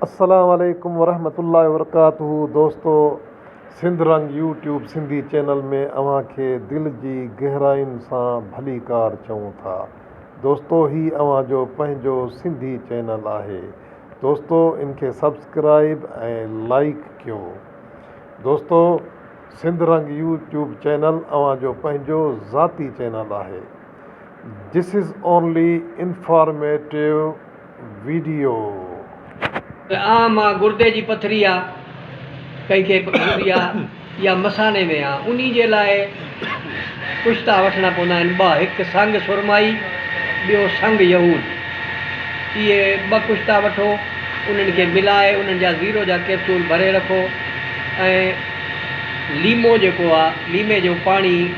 السلام عليڪم ورحمة الله وبرڪاته دوستو Sindh Rang YouTube Sindhi channel ۾ اوهان کي دل جي گهراين سان ڀليڪار چئون ٿا دوستو هي اوهان جو پنهنجو سنڌي چينل آهي دوستو ان کي سبسڪرائب ۽ لائيڪ ڪيو دوستو Sindh Rang YouTube channel اوهان جو پنهنجو ذاتي چينل آهي This is only informative video. ته آء مان گردي جي پٿري آ ڪئي کي هوندي آ يا مثاني ۾ آ انهي جي لاء پشتا وٺڻا پوندا آهن ٻه هڪ سنگ سرمائي ٻيو سنگ يهود اهي ٻه پشتا وٺو انهن کي ملائي انهن جا زيرو جا ڪيپسول ڀري رکو ۽ ليمو جيڪو آ ليمي جو پاڻي